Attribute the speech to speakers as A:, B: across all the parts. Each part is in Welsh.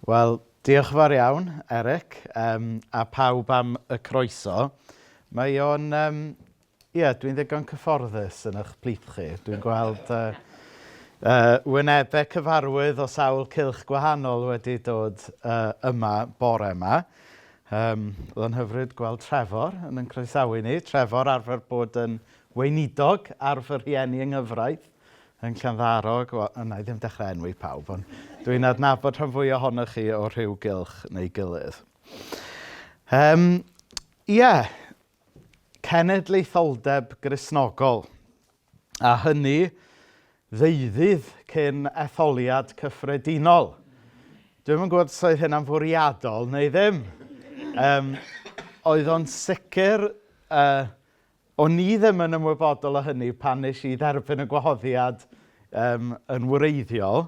A: Wel, diolch yn fawr iawn, Eric, um, a pawb am y croeso. Mae o'n... Um, Ie, yeah, dwi'n ddigon cyfforddus yn eich plith chi. Dwi'n gweld uh, uh, wynebau cyfarwydd o sawl cilch gwahanol wedi dod uh, yma bore yma. Yym, oedd o'n hyfryd gweld Trefor yn yn croesawu ni. Trefor arfer bod yn weinidog ar fy rhieni yng nghyfraith yn Llanddarog. Wel, yna i ddim dechrau enwi pawb, ond dwi'n adnabod rhan fwy ohonoch chi o rhyw gylch neu gilydd. Um, ie, yeah. cenedlaetholdeb grisnogol. a hynny ddeuddydd cyn etholiad cyffredinol. Dwi'n yn gwybod os oedd hynna'n fwriadol neu ddim. Um, oedd o'n sicr, uh, o'n ni ddim yn ymwybodol o hynny pan nes i dderbyn y gwahoddiad um, yn wreiddiol,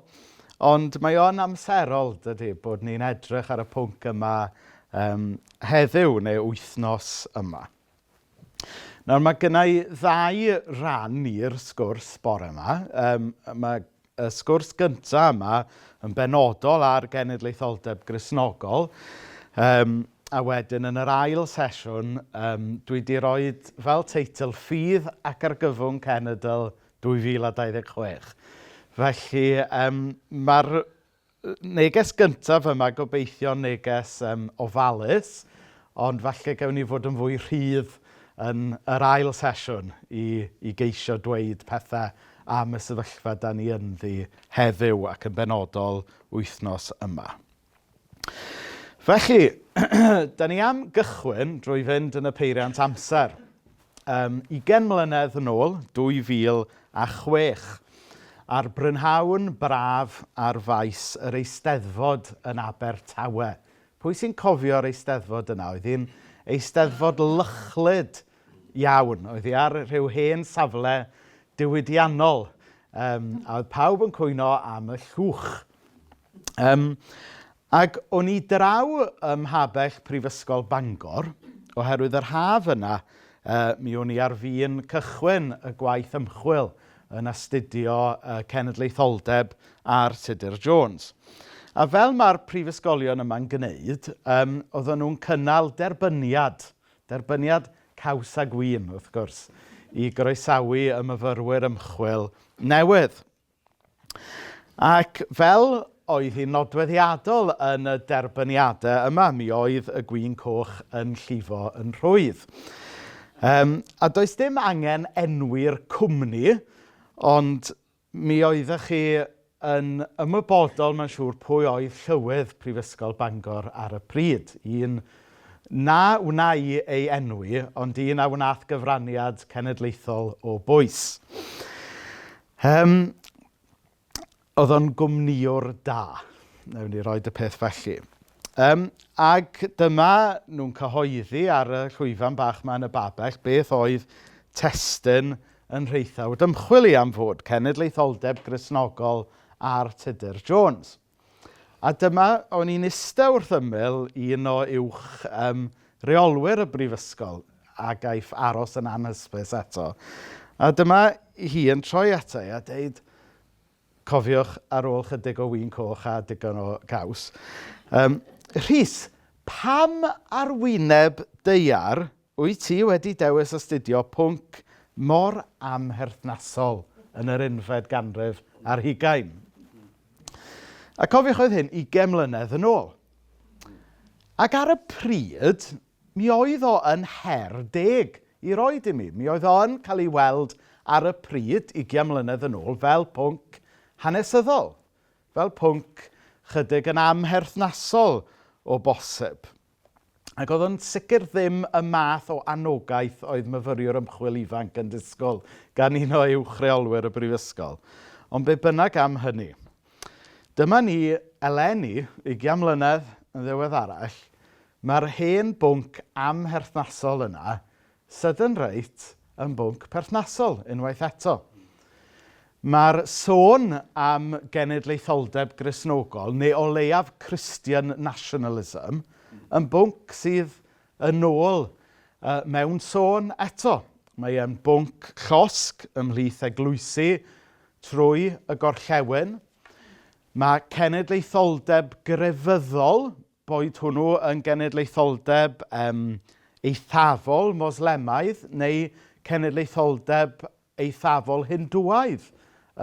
A: ond mae o'n amserol, dydy, bod ni'n edrych ar y pwnc yma um, heddiw neu wythnos yma. Nawr mae gynna i ddau ran i'r sgwrs bore yma. Yym, mae y sgwrs gyntaf yma yn benodol ar genedlaetholdeb Gristnogol. Yym, a wedyn yn yr ail sesiwn yym dwi 'di rhoi fel teitl 'Ffydd ac Argyfwng Cenedl 2026'. Felly yym mae'r Neges gyntaf yma, gobeithio neges um, ofalus, ond falle gewn ni fod yn fwy rhydd yn yr ail sesiwn i, i geisio dweud pethau am y sefyllfa da ni ynddi heddiw ac yn benodol wythnos yma. Felly, da ni am gychwyn drwy fynd yn y peiriant amser. um, ugain mlynedd yn ôl, 2006, ar brynhawn braf ar faes yr Eisteddfod yn Abertawe. Pwy sy'n cofio'r Eisteddfod yna? Oedd hi'n Eisteddfod lychlyd iawn. Oedd hi ar rhyw hen safle diwydiannol. Um, a oedd pawb yn cwyno am y llwch. Yym ac o'n i draw ym Mhabell Prifysgol Bangor oherwydd yr haf yna yy mi o'n i ar fin cychwyn y gwaith ymchwil yn astudio yy cenedlaetholdeb ar Tudur Jones. A fel mae'r prifysgolion yma'n gwneud, yym, oedden nhw'n cynnal derbyniad, derbyniad caws a gwin, wrth gwrs, i groesawu y myfyrwyr ymchwil newydd. Ac fel oedd hi'n nodweddiadol yn y derbyniadau yma, mi oedd y gwin coch yn llifo yn rhwydd. Um, a does dim angen enwi'r cwmni, ond mi oeddech chi yn ymwybodol, mae'n siŵr, pwy oedd llywydd Prifysgol Bangor ar y pryd. Un na wna i ei enwi, ond un a wnaeth gyfraniad cenedlaethol o bwys. Yym, oedd o'n gwmnïwr da. Wnawn ni roi y peth felly. Yym, ac dyma nhw'n cyhoeddi ar y llwyfan bach yma yn y Babell beth oedd testun yn rheithawd ymchwil i am fod cenedlaetholdeb Gristnogol ar Tudur Jones. A dyma, o'n i'n iste wrth ymyl un o uwch um, reolwyr y brifysgol a gaiff aros yn anhysbys eto. A dyma hi yn troi ato i a dweud, cofiwch ar ôl chydig o wyn coch a digon o gaws. Um, Rhys, pam arwyneb deiar Wyt ti wedi dewis astudio pwnc mor amherthnasol yn yr unfed ganrif ar hugain? A cofiwch oedd hyn ugain mlynedd yn ôl. Ac ar y pryd, mi oedd o yn her deg i roi i mi. Mi oedd o yn cael ei weld ar y pryd, ugain mlynedd yn ôl, fel pwnc hanesyddol, fel pwnc chydig yn amherthnasol o bosib. Ac oedd o'n sicr ddim y math o anogaeth oedd myfyriwr ymchwil ifanc yn disgwyl gan un o uwch reolwyr y brifysgol. Ond be bynnag am hynny. Dyma ni eleni, ugian mlynedd yn ddiweddarach, mae'r hen bwnc amherthnasol yna Southern Rite yn bwnc perthnasol, unwaith eto. Mae'r sôn am genedlaetholdeb Gristnogol, neu o leiaf Christian nationalism, yn bwnc sydd yn ôl uh, mewn sôn eto. Mae e'n bwnc llosg ymhlith eglwysi trwy y gorllewin. Mae cenedlaetholdeb grefyddol boed hwnnw yn genedlaetholdeb um, eithafol Moslemaidd neu cenedlaetholdeb eithafol Hindwaidd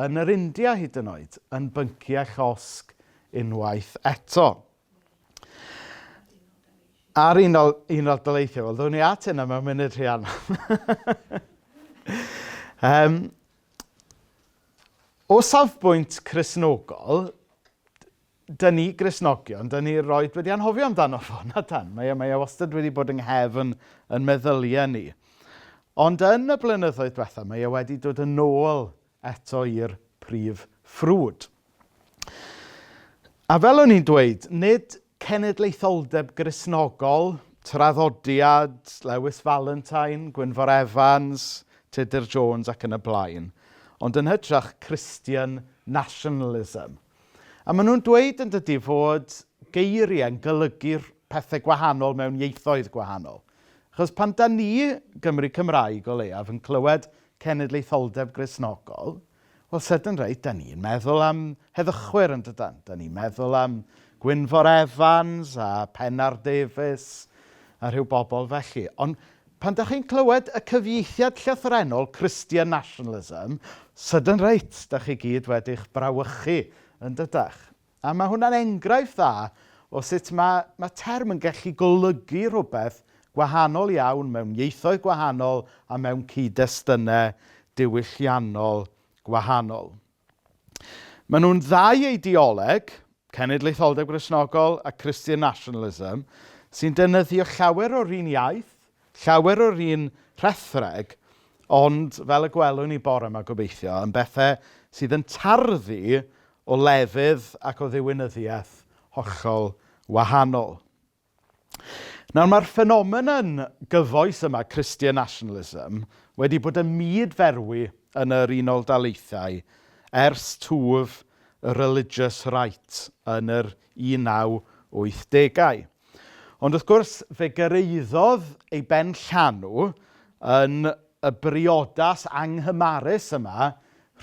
A: yn yr India hyd yn oed, yn bynci a chosg unwaith eto. Ar un o'r daleithiau, wel, ddwn i at hynna mewn munud rhy anna. um, o safbwynt chrysnogol, Dŷn ni Gristnogion, dŷn ni roed wedi anghofio amdano fo, na dan. Mae e, mae e wastad wedi bod yng nghefn yn meddyliau ni. Ond yn y blynyddoedd diwethaf, mae e wedi dod yn ôl eto i'r prif ffrwd. A fel o'n i'n dweud, nid cenedlaetholdeb grisnogol, traddodiad, Lewis Valentine, Gwynfor Evans, Tudur Jones ac yn y blaen, ond yn hytrach Christian nationalism. A maen nhw'n dweud yn dydy fod geiriau yn golygu pethau gwahanol mewn ieithoedd gwahanol. Achos pan da ni, Gymru Cymraeg o leiaf, yn clywed cenedlaetholdeb grisnogol, wel, sydyn reit, da ni'n meddwl am heddychwyr yn dydan. Da ni'n meddwl am Gwynfor Evans a Pennar Davies a rhyw bobl felly. Ond Pan dach chi'n clywed y cyfieithiad llythrennol 'Christian Nationalism', sydyn reit, dach chi gyd wedi'ch brawychu, yn dydach? A mae hwnna'n enghraifft dda o sut mae, mae term yn gallu golygu rhywbeth gwahanol iawn mewn ieithoedd gwahanol a mewn cyd-destunau diwylliannol gwahanol. Maen nhw'n ddau eideoleg, cenedlaetholdeb Gristnogol a Christian nationalism, sy'n defnyddio llawer o'r un iaith, llawer o'r un rhethreg, ond fel y gwelwn ni bore yma gobeithio, yn bethau sydd yn tarddu o lefydd ac o ddiwinyddiaeth hollol wahanol. Nawr mae'r ffenomenon gyfoes yma, Christian nationalism, wedi bod yn myd-ferwi yn yr Unol Daleithiau ers twf y religious right yn yr 1980au. Ond wrth gwrs fe gyrraeddodd ei ben llanw yn y briodas anghymarus yma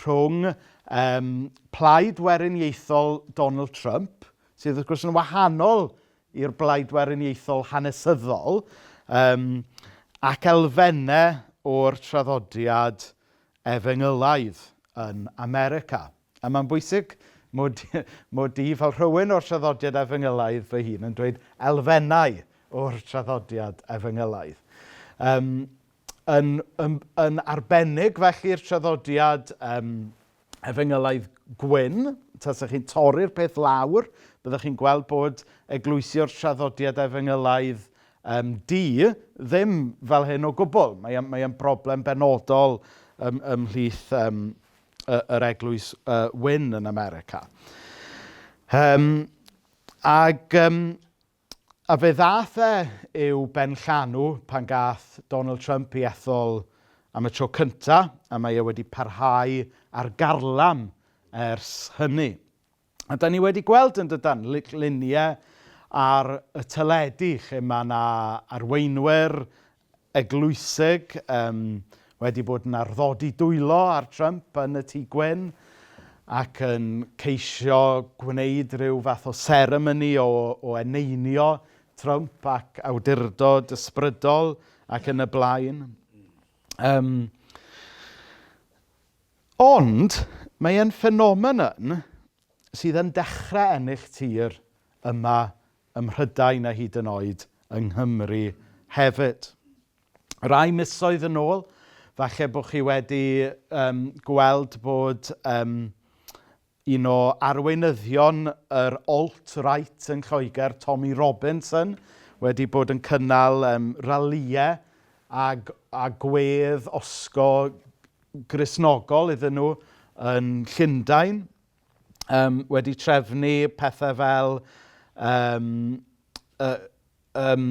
A: rhwng um, plaid weriniaethol Donald Trump sydd wrth gwrs yn wahanol i'r blaid weriniaethol hanesyddol um, ac elfennau o'r traddodiad efengylaidd yn America. A mae'n bwysig mod, mod i fel rhywun o'r traddodiad efengylaidd fy hun yn dweud elfennau o'r traddodiad efengylaidd. Um, yn, yn, yn arbennig felly'r traddodiad um, Efengylaidd gwyn, tasech chi'n torri'r peth lawr, byddech chi'n gweld bod eglwysio'r traddodiad efengylaidd um, du ddim fel hyn o gwbl. Mae e'n mae broblem benodol ym, ymhlith um, yr eglwys uh, wyn yn America. Um, ac um, A fe ddaeth e i'w benllanw pan gath Donald Trump i ethol am y tro cynta, a mae e wedi parhau ar garlam ers hynny. A da ni wedi gweld yn dydan luniau ar y teledu lle mae yna arweinwyr eglwysig yym wedi bod yn arddodi dwylo ar Trump yn y Tŷ Gwyn ac yn ceisio gwneud rhyw fath o seremoni o o eneinio Trump ac awdurdod ysbrydol ac yn y blaen. Yym, ond mae e'n ffenomenon sydd yn dechrau ennill tir yma ym Mhrydain a hyd yn oed yng Nghymru hefyd. Rai misoedd yn ôl, falle bod chi wedi um, gweld bod um, un o arweinyddion yr alt-right yn Lloegr, Tommy Robinson, wedi bod yn cynnal um, ralïau a, a gwedd osgo grisnogol iddyn nhw yn Llundain. yym wedi trefnu pethau fel yym yy yym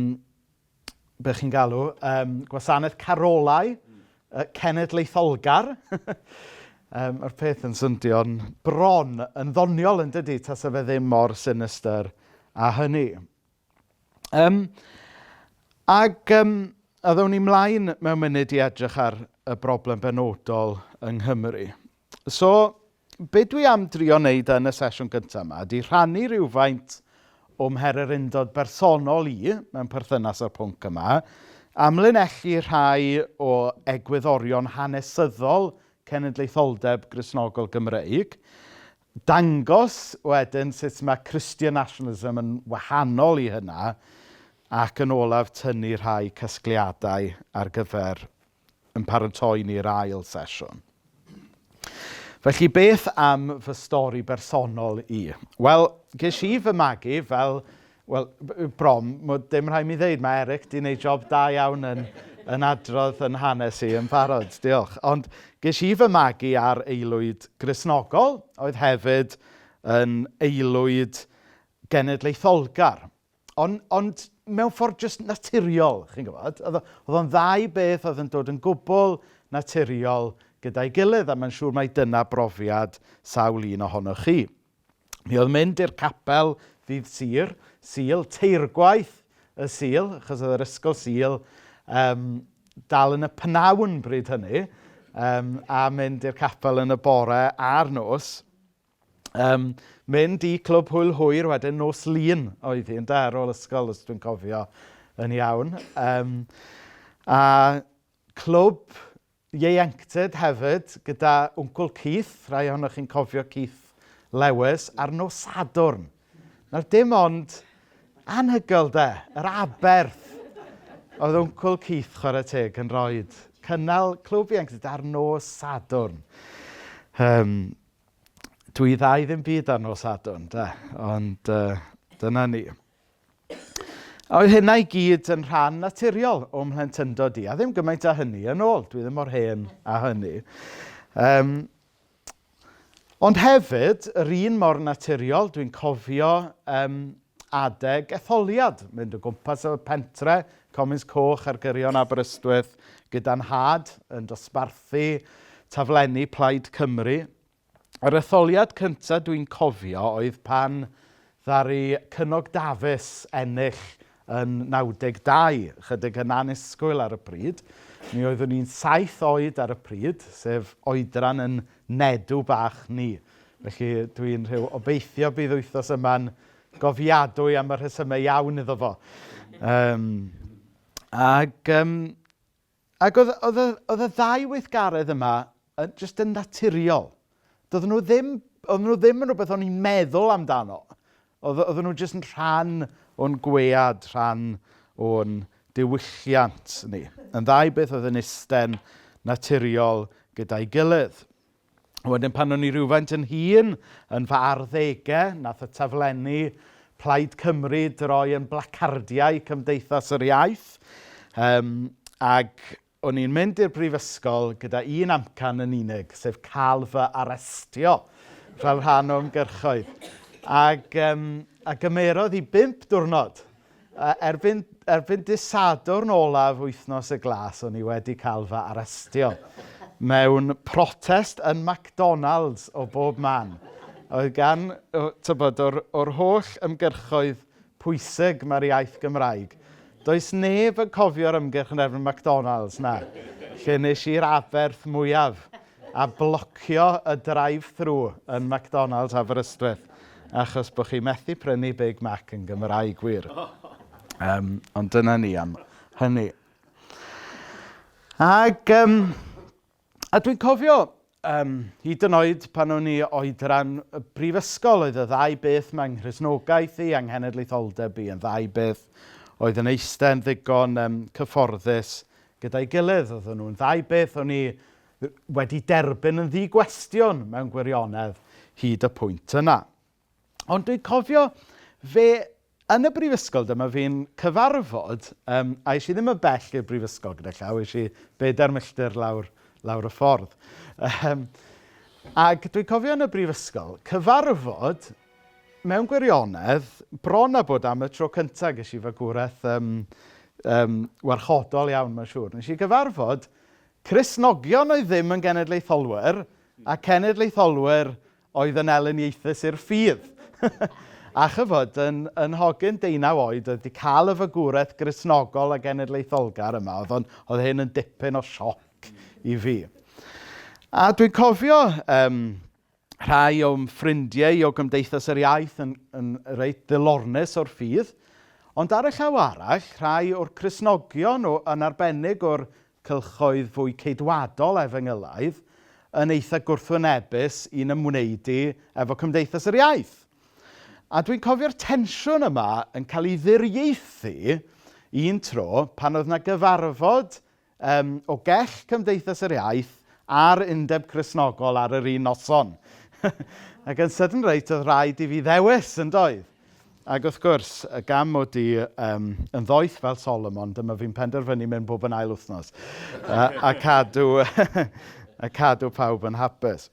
A: be chi'n galw yym gwasanaeth carolau yy cenedlaetholgar yym ma'r peth yn swnio'n bron yn ddoniol yn dydy tasa fe ddim mor sinistr â hynny. Yym ac yym a ddown ni mlaen mewn munud i edrych ar y broblem benodol yng Nghymru. So, be dwi am drio wneud yn y sesiwn gyntaf yma ydy rhannu rhywfaint o'm her yr undod bersonol i mewn perthynas â'r pwnc yma, a mlinellu rhai o egwyddorion hanesyddol cenedlaetholdeb Gristnogol Gymreig, dangos wedyn sut mae Christian nationalism yn wahanol i hynna, ac yn olaf tynnu rhai casgliadau ar gyfer yn paratoi ni i'r ail sesiwn. Felly, beth am fy stori bersonol i? Wel, ges i fy magu fel, wel, brom, mae dim rhaid mi ddeud, mae Eric di wneud job da iawn yn, yn adrodd yn hanes i yn barod, diolch. Ond ges i fy magu ar aelwyd grisnogol, oedd hefyd yn aelwyd genedlaetholgar. Ond, ond mewn ffordd jyst naturiol, chi'n gwybod. Oedd oedd o'n ddau beth oedd yn dod yn gwbl naturiol gyda'i gilydd, a mae'n siŵr mai dyna brofiad sawl un ohonoch chi. Mi oedd mynd i'r capel ddydd Sur, Sul, teirgwaith y Sul, achos oedd yr ysgol Sul um, dal yn y pnawn bryd hynny, um, a mynd i'r capel yn y bore a'r nos, Yym, mynd i Clwb Hwyl Hwyr wedyn nos Lun oedd hi ynde ar ôl ysgol os dwi'n cofio yn iawn. Yym, a clwb ieuenctid hefyd gyda Wncwl Keith, rhai ohonoch chi'n cofio Keith Lewis, ar nos Sadwrn. Nawr dim ond anhygoel de, yr aberth oedd Wncwl Keith chwarae teg yn rhoi cynnal clwb ieuenctid ar nos Sadwrn. Yym... Dw i dda i ddim byd ar nos Sadwrn de, ond yy dyna ni. A oedd hynna i gyd yn rhan naturiol o'm mhlentyndod i, a ddim gymaint â hynny yn ôl, dwi ddim mor hen â hynny. Um, ond hefyd, yr un mor naturiol, dwi'n cofio um, adeg etholiad, mynd o gwmpas y pentre, Comins Coch ar gyrion Aberystwyth, gyda nhad yn dosbarthu taflenni Plaid Cymru. Yr etholiad cyntaf dwi'n cofio oedd pan ddaru Cynog Dafis ennill yn 92, chydig yn anusgwyl ar y pryd. Mi oeddwn i'n saith oed ar y pryd, sef oedran yn Nedu bach ni. Felly, dwi'n rhyw obeithio bydd wythnos yma'n gofiadwy am y rhesymau iawn iddo fo. Um, ac um, ac oedd, oedd, oedd y ddau weithgaredd yma yn, just yn naturiol. Doedden nhw ddim, oedd nhw ddim yn rhywbeth o'n i'n meddwl amdano. Oedd- oedden nhw jyst yn rhan o'n gwead, rhan o'n diwylliant ni. Yn ddau beth oedd yn isten naturiol gyda'i gilydd. Wedyn pan o'n i rhywfaint yn hun, yn fy arddegau, nath y taflenni Plaid Cymru droi yn blacardiau Cymdeithas yr Iaith. Yym ac O'n i'n mynd i'r brifysgol gyda un amcan yn unig, sef cael fy arestio fel rhan o ymgyrchoedd. Ac, um, a gymerodd i bimp diwrnod. A erbyn, erbyn disadwrn olaf wythnos y glas, o'n i wedi cael fy arestio mewn protest yn McDonald's o bob man. Oedd gan, tybod, o'r, or holl ymgyrchoedd pwysig mae'r iaith Gymraeg. Does neb yn cofio'r ymgyrch yn erbyn McDonalds, na. Lle nes i'r aberth mwyaf a blocio y drive-thru yn McDonalds Aberystwyth achos bod chi methu prynu Big Mac yn Gymraeg wir. Um, ond dyna ni am hynny. Ac um, A dwi'n cofio, um, hyd yn oed pan o'n i oedran y brifysgol, oedd y ddau beth mae nghrisnogaeth i anghenedlaetholdeb i yn ddau beth oedd yn eistedd yn ddigon um, cyfforddus gyda'i gilydd. Oedden nhw'n ddau beth o'n i wedi derbyn yn ddi-gwestiwn mewn gwirionedd hyd y pwynt yna. Ond dwi'n cofio fe yn y brifysgol dyma fi'n cyfarfod, yym, a es i ddim yn bell i'r brifysgol gyda llaw, es i bedair milltir lawr, lawr y ffordd. Um, ac dwi'n cofio yn y brifysgol, cyfarfod mewn gwirionedd, bron a bod am y tro cyntaf ges i fagwraeth um, um, warchodol iawn, mae'n siŵr. Nes i gyfarfod Cresnogion oedd ddim yn genedlaetholwyr a cenedlaetholwyr oedd yn Elin Ieithus i'r ffydd. a chyfod, yn, yn hogyn deunaw oed oedd wedi cael y fagwraeth grisnogol a genedlaetholgar yma, oedd, on, oedd hyn yn dipyn o sioc i fi. A dwi'n cofio um, rhai o'm ffrindiau o Gymdeithas yr Iaith yn, yn reit ddilornus o'r ffydd, ond ar y llaw arall, rhai o'r Cresnogion o, yn arbennig o'r cylchoedd fwy Ceidwadol efengylaidd yn eitha gwrthwynebus i'n ymwneud i efo Cymdeithas yr Iaith. A dwi'n cofio'r tensiwn yma yn cael ei ddiriaethu un tro pan oedd 'na gyfarfod um, o gell Cymdeithas yr Iaith a'r Undeb Cresnogol ar yr un noson. Ac yn sydyn reit oedd rhaid i fi ddewis yn doedd. Ac wrth gwrs, y gam mod i um, yn ddoeth fel Solomon, dyma fi'n penderfynu mynd bob yn ail wythnos. a, a, cadw, a cadw pawb yn hapus.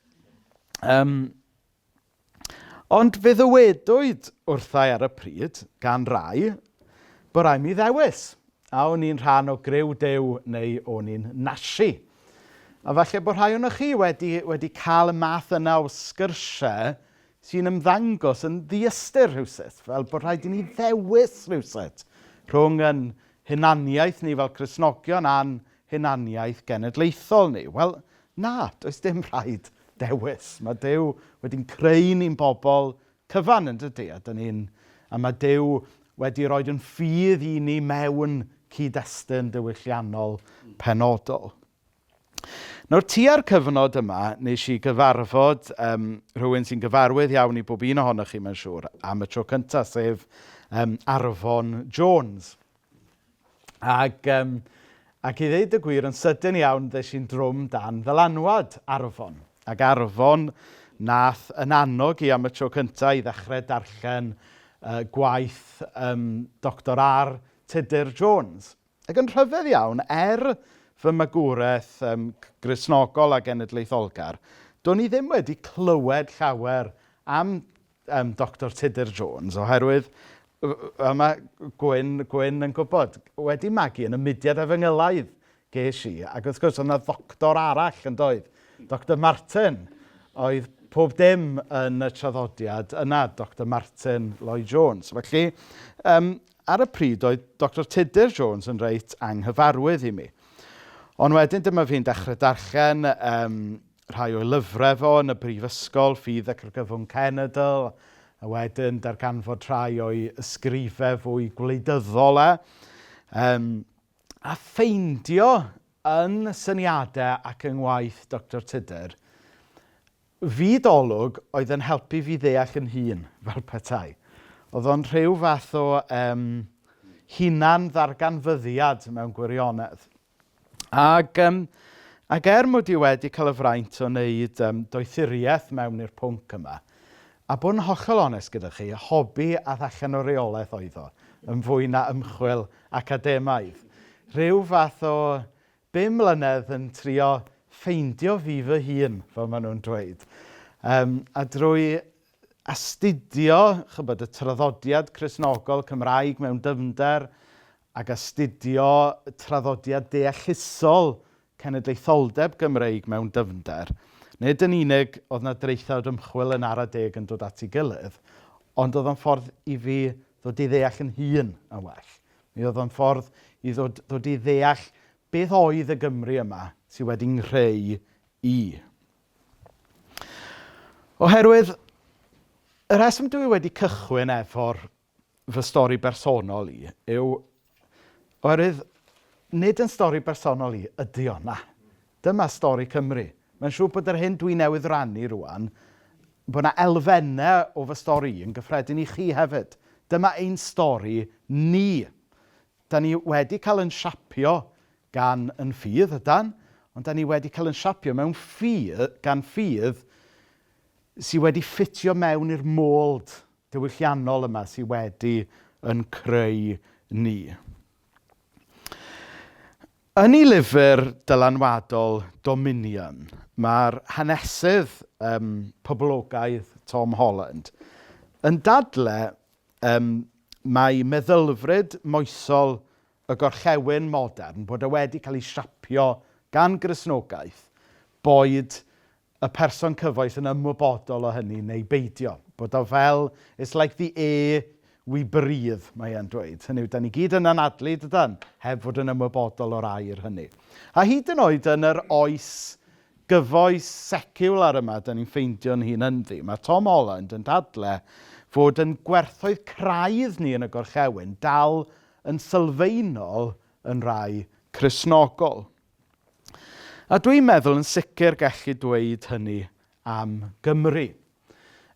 A: Um, ond fe ddywedwyd wrthau ar y pryd, gan rai, bod rai mi ddewis. A o'n i'n rhan o greu dew neu o'n i'n nasi. A falle bod rhai o'n chi wedi, wedi cael y math yna o sgyrsiau sy'n ymddangos yn ddiystyr rhywsut, fel bod rhaid i ni ddewis rhywsut rhwng yn hunaniaeth ni fel Cresnogion a'n hunaniaeth genedlaethol ni. Wel, na, does dim rhaid dewis. Mae Dyw wedi'n creu ni'n bobl cyfan yn dydy, a, dyn ni'n, a mae Dyw wedi rhoi yn ffydd i ni mewn cyd-destun diwylliannol penodol. Nawr tua'r cyfnod yma, wnes i gyfarfod yym rhywun sy'n gyfarwydd iawn i bob un ohonoch chi mae'n siŵr am y tro cynta, sef yym Arfon Jones. Ac yym ac i ddeud y gwir yn sydyn iawn ddes i'n drwm dan ddylanwad Arfon. Ac Arfon nath yn annog i am y tro cynta i ddechrau darllen yy gwaith yym Doctor R. Tudur Jones. Ac yn rhyfedd iawn, er fy magwraeth um, grisnogol a genedlaetholgar, do'n i ddim wedi clywed llawer am um, Dr Tudur Jones, oherwydd a mae Gwyn, Gwyn yn gwybod, wedi magu yn y mudiad a fy ngylaidd ges i. Ac wrth gwrs, oedd yna ddoctor arall yn doedd, Dr Martin, oedd pob dim yn y traddodiad yna, Dr Martin Lloyd Jones. Felly, um, Ar y pryd oedd Doctor Tudur Jones yn reit anghyfarwydd i mi. Ond wedyn dyma fi'n dechrau darllen um, rhai o'i lyfrau fo yn y brifysgol, Ffydd ac Argyfwng Cenedl, a wedyn darganfod rhai o'i ysgrifau fwy gwleidyddol e. Um, a ffeindio yn syniadau ac yng ngwaith Doctor Tudur Fyd olwg oedd yn helpu fi ddeall yn hun, fel petai. Oedd o'n rhyw fath o um, hunan-ddarganfyddiad mewn gwirionedd. Ac, um, ac er mod i wedi cael y fraint o wneud um, doethuriaeth mewn i'r pwnc yma, a bod yn hollol onest gyda chi, hobi a allan o reolaeth oedd o, yn fwy na ymchwil academaidd. Rhyw fath o Bum mlynedd yn trio ffeindio fi fy hun, fel maen nhw'n dweud. Um, a drwy astudio chybod, y traddodiad Cresnogol Cymraeg mewn dyfnder ac astudio traddodiad deallusol cenedlaetholdeb Gymreig mewn dyfnder, nid yn unig oedd yna draethawd ymchwil yn ara deg yn dod at ei gilydd, ond oedd o'n ffordd i fi ddod i ddeall yn hun yn well. Mi oedd o'n ffordd i ddod, ddod i ddeall beth oedd y Gymru yma sydd wedi nghreu i. Oherwydd, y rheswm dwi wedi cychwyn efo'r fy stori bersonol i yw oherwydd nid yn stori bersonol i ydy o, na. Dyma stori Cymru. Mae'n siŵr bod yr hyn dwi newydd rannu rwan, bod 'na elfennau o fy stori i yn gyffredin i chi hefyd. Dyma ein stori ni. Da ni wedi cael yn siapio gan yn ffydd, ydan, ond da ni wedi cael yn siapio mewn ffydd, gan ffydd sydd wedi ffitio mewn i'r mold diwylliannol yma sydd wedi yn creu ni. Yn ei lyfr dylanwadol Dominion, mae'r hanesydd yym poblogaidd Tom Holland yn dadlau yym mai meddylfryd moesol y gorllewin modern, bod e wedi cael ei siapio gan Gristnogaeth, boed y person cyfoes yn ymwybodol o hynny neu beidio. Bod o fel, it's like the air we breathe, mae e'n dweud. Hynny yw, da ni gyd yn anadlu, dydan, heb fod yn ymwybodol o'r air hynny. A hyd yn oed yn yr oes gyfoes seciwlar yma, da ni'n ffeindio'n hun ynddi. Mae Tom Holland yn dadle fod yn gwerthoedd craidd ni yn y gorchewyn dal yn sylfaenol yn rai Cresnogol. A dwi'n meddwl yn sicr gallu dweud hynny am Gymru.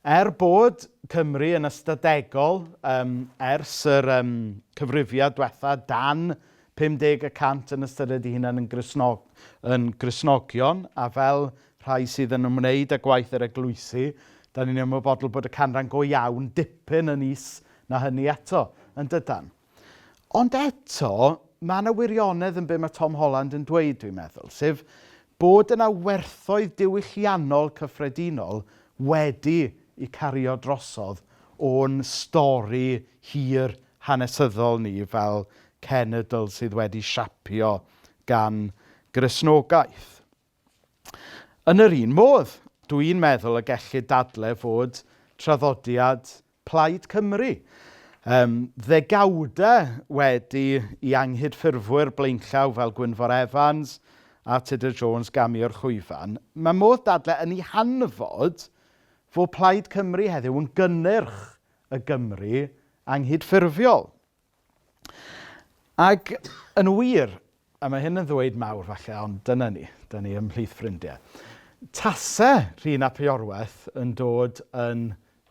A: Er bod Cymru yn ystadegol um, ers yr um, cyfrifiad diwetha dan 50 y cant yn ystyried ei hunan yn, grisnog, yn grisnogion a fel rhai sydd yn ymwneud â gwaith yr eglwysi, da ni'n ymwybodol bod y canran go iawn dipyn yn is na hynny eto, yn dydan. Ond eto, mae yna wirionedd yn be mae Tom Holland yn dweud, dwi'n meddwl, sef bod yna werthoedd diwylliannol cyffredinol wedi i cario drosodd o'n stori hir hanesyddol ni fel cenedl sydd wedi siapio gan Gristnogaeth. Yn yr un modd, dw i'n meddwl y gellid dadle fod traddodiad Plaid Cymru um, ddegawda wedi i anghydffurfwyr blaenllaw fel Gwynfor Evans a Tudur Jones gamio'r chwyfan, mae modd dadle yn ei hanfod fod Plaid Cymru heddiw yn gynnyrch y Gymru anghydffurfiol. Ac yn wir, a mae hyn yn ddweud mawr falle, ond dyna ni, dyna ni ymhlith ffrindiau. Tase Rhun ap Iorwerth yn dod yn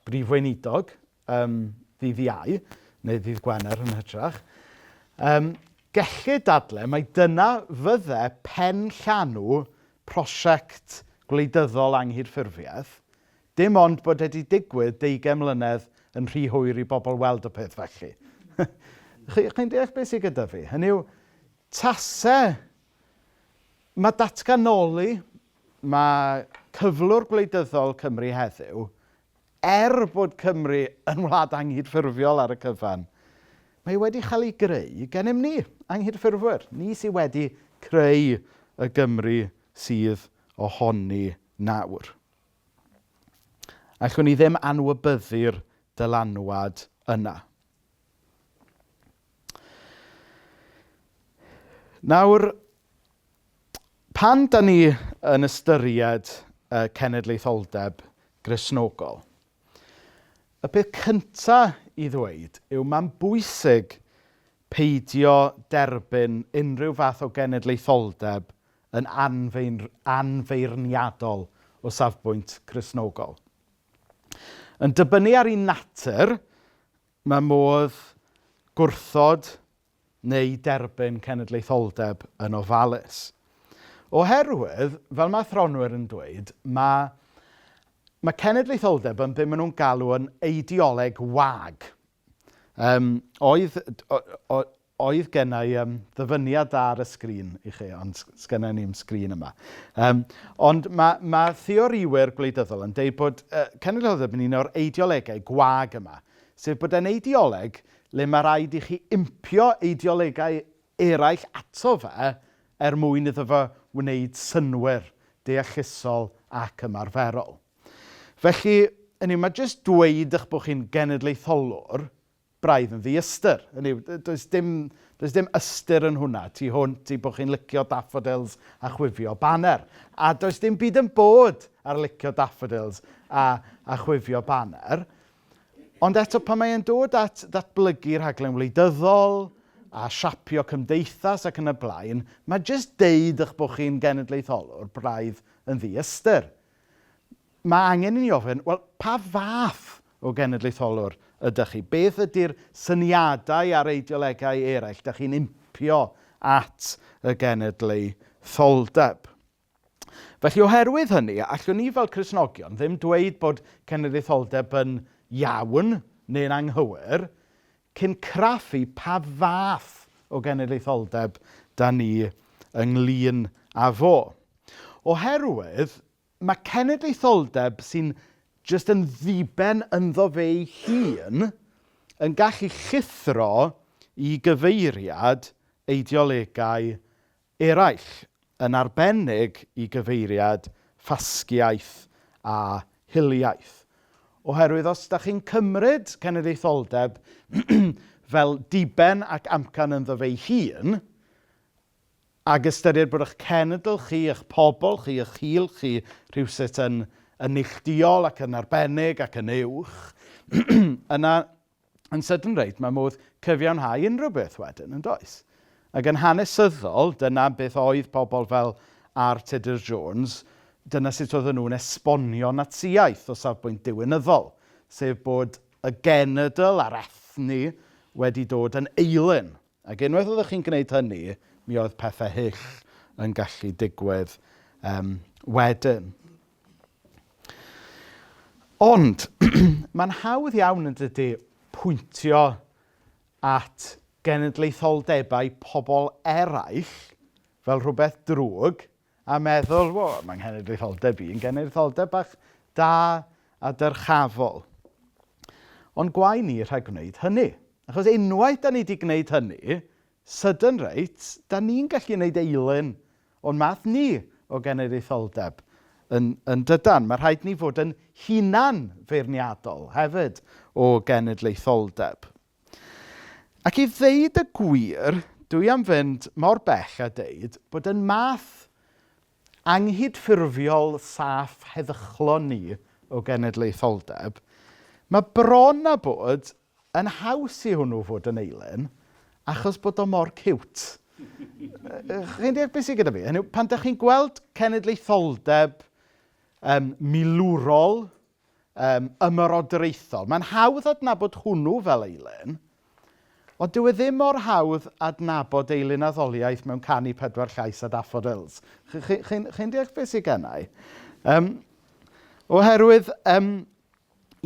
A: brif weinidog um, ddydd iau, neu ddydd Gwener yn hytrach, um, gellu dadle mae dyna fydde pen llanw prosiect gwleidyddol anghydffurfiaeth, Dim ond bod e 'di digwydd deugain mlynedd yn rhy hwyr i bobl weld y peth felly. Chi, chi'n deall beth sydd gyda fi? Hynny yw, tase, mae datganoli, mae cyflwr gwleidyddol Cymru heddiw, er bod Cymru yn wlad anghydffurfiol ar y cyfan, mae wedi cael ei greu gennym ni, anghydffurfwyr. Ni sydd wedi creu y Gymru sydd ohoni nawr. Allwn ni ddim anwybyddu'r dylanwad yna. Nawr, pan da ni yn ystyried y cenedlaetholdeb grisnogol, y peth cyntaf i ddweud yw mae'n bwysig peidio derbyn unrhyw fath o genedlaetholdeb yn anfeirniadol o safbwynt Cristnogol. Yn dibynnu ar ei natur, mae modd gwrthod neu derbyn cenedlaetholdeb yn ofalus. Oherwydd, fel mae athronwyr yn dweud, mae, mae cenedlaetholdeb yn beth maen nhw'n galw yn eideoleg wag. Yym, oedd, oedd genna i um, ddyfyniad da ar y sgrin i chi, ond sgynna ni'n sgrin yma. Um, ond mae, mae theoriwyr gwleidyddol yn dweud bod uh, cenedlaethol yn un o'r eideolegau gwag yma, sef bod e'n eideoleg le mae rhaid i chi impio eideolegau eraill ato fe er mwyn iddo fe wneud synwyr deallusol ac ymarferol. Felly, hynny yw, mae jyst dweud eich bod chi'n genedlaetholwr braidd yn ddi-ystyr. Hynny yw, does dim, does dim ystyr yn hwnna tu hwnt i bod chi'n licio daffodils a chwifio baner. A does dim byd yn bod ar licio daffodils a, a chwifio baner. Ond eto, pan mae'n dod at ddatblygu rhaglen wleidyddol a siapio cymdeithas ac yn y blaen, mae jyst deud eich bod chi'n genedlaetholwr braidd yn ddi-ystyr. Mae angen i ni ofyn, wel, pa fath o genedlaetholwr ydych chi? Beth ydy'r syniadau a'r eideolegau eraill ydych chi'n impio at y genedlaetholdeb? Felly, oherwydd hynny, allwn ni fel Cresnogion ddim dweud bod cenedlaetholdeb yn iawn neu'n anghywir, cyn craffu pa fath o genedlaetholdeb dan ni ynglyn â fo. Oherwydd mae cenedlaetholdeb sy'n jyst yn ddiben ynddo fe'i hun yn gallu llithro i gyfeiriad eideolegau eraill, yn arbennig i gyfeiriad ffasgiaeth a hiliaeth. Oherwydd os da chi'n cymryd cenedlaetholdeb fel diben ac amcan ynddo fe'i hun, ag ystyried bod eich cenedl chi, eich pobl chi, eich hil chi rhywsut yn, yn neillduol ac yn arbennig ac yn uwch, yna yn sydyn reit, mae modd cyfiawnhau unrhyw beth wedyn, yn does? Ac yn hanesyddol, dyna beth oedd pobl fel R. Tudur Jones, dyna sut oedden nhw'n esbonio Natsiaeth o safbwynt diwinyddol, sef bod y genedl a'r ethni wedi dod yn eilun Ac unwaith oeddech chi'n gwneud hynny, mi oedd pethau hyll yn gallu digwydd um, wedyn. Ond, mae'n hawdd iawn yn dydy pwyntio at genedlaetholdebau pobl eraill fel rhywbeth drwg, a meddwl, wo, mae nghenedlaetholdeb i'n genedlaetholdeb bach da a dyrchafol. Ond gwae ni rhag gwneud hynny. Achos unwaith da ni wedi gwneud hynny, sydyn reit, da ni'n gallu gwneud eilun o'n math ni o genedlaetholdeb yn, yn dydan. Mae rhaid ni fod yn hunan feirniadol hefyd o genedlaetholdeb. Ac i ddeud y gwir, dwi am fynd mor bell a deud bod yn math anghydffurfiol saff heddychlon ni o genedlaetholdeb, mae bron a bod yn haws i hwnnw fod yn eilen achos bod o mor ciwt. Chi'n deall beth sydd gyda fi? Hynny pan ydych chi'n gweld cenedlaetholdeb um, milwrol, um, ymerodraethol. Mae'n hawdd adnabod hwnnw fel eilen, ond dyw e ddim mor hawdd adnabod eilen addoliaeth mewn canu pedwar llais a daffodils. Chi'n chi, chi, chi deall beth sy'n gennau? Um, oherwydd, um,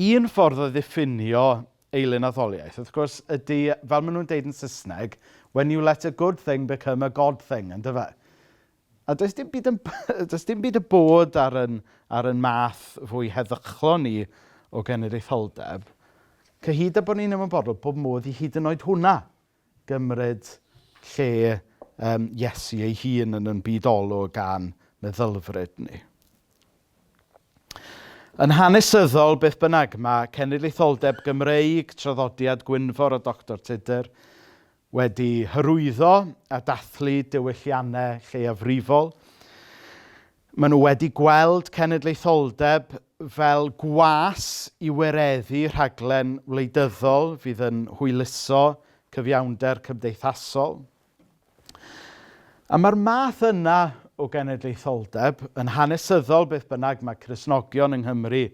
A: un ffordd o ddiffinio eilen addoliaeth, wrth gwrs, ydy, fel maen nhw'n deud yn Saesneg, when you let a good thing become a god thing, ynddo fe? A does dim byd yn b- does dim byd y bod ar ein ar ein math fwy heddychlon ni o genedlaetholdeb, cyhyd â bod ni'n ymwybodol bod modd i hyd yn oed hwnna gymryd lle yym Iesu ei hun yn ein byd olwg a'n meddylfryd ni. Yn hanesyddol, beth bynnag, mae cenedlaetholdeb Gymreig, traddodiad Gwynfor a Doctor Tudur, Wedi hyrwyddo a dathlu diwylliannau lleiafrifol, maen nhw wedi gweld cenedlaetholdeb fel gwas i wireddu rhaglen wleidyddol fydd yn hwyluso cyfiawnder cymdeithasol. A mae'r math yna o genedlaetholdeb yn hanesyddol beth bynnag mae Cresnogion yng Nghymru